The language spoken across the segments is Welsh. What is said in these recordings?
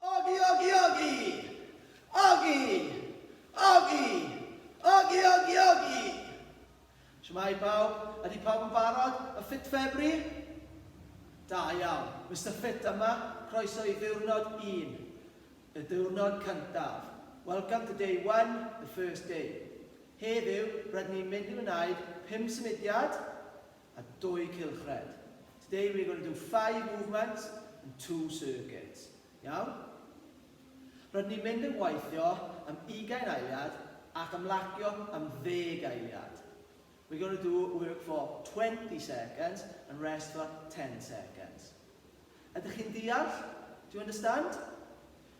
Ogi, ogi, ogi! Ogi! Ogi! Ogi, ogi, ogi! Siamai pawb, ydy pawb yn barod? Y ffit ffebri? Da iawn, Mr Ffit yma, croeso i ddiwrnod un. Y diwrnod cyntaf. Welcome to day one, the first day. Heddiw, rydyn ni'n mynd i wneud pum symudiad a dwy cylchred. Today we're going to do five movements and two circuits. Iawn? Rydyn ni'n mynd yn gweithio am ugain eiliad ac ymlacio am ddeg eiliad. We're going to do work for 20 seconds and rest for 10 seconds. Ydych chi'n deall? Do you understand?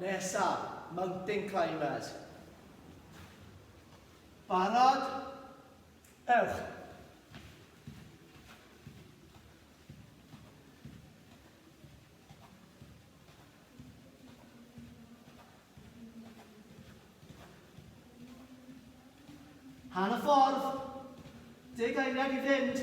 Nesaf, mountain climbers. Barod? Ewch! Hanner ffordd. Deg eiliad i fynd.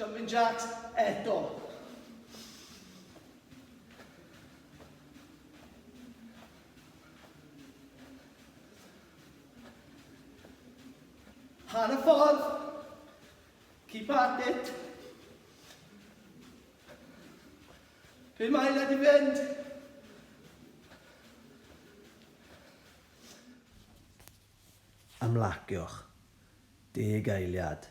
Jumping jacks eto. Hanner ffordd. Keep at it. Be mae le di fynd? Ymlaciwch. Deg eiliad.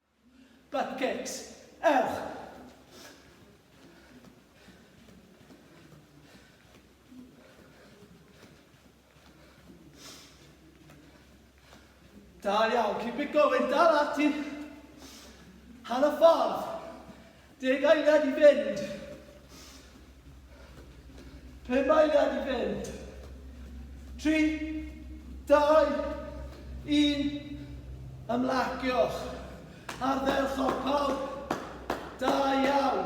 Bucket! Ewch! Da iawn, keep it going, dal ati! Hanner ffordd! Deg eiliad i fynd. Pum eiliad i fynd. Tri, dau, un. Ymlaciwch. Ardderchog pawb. Da iawn.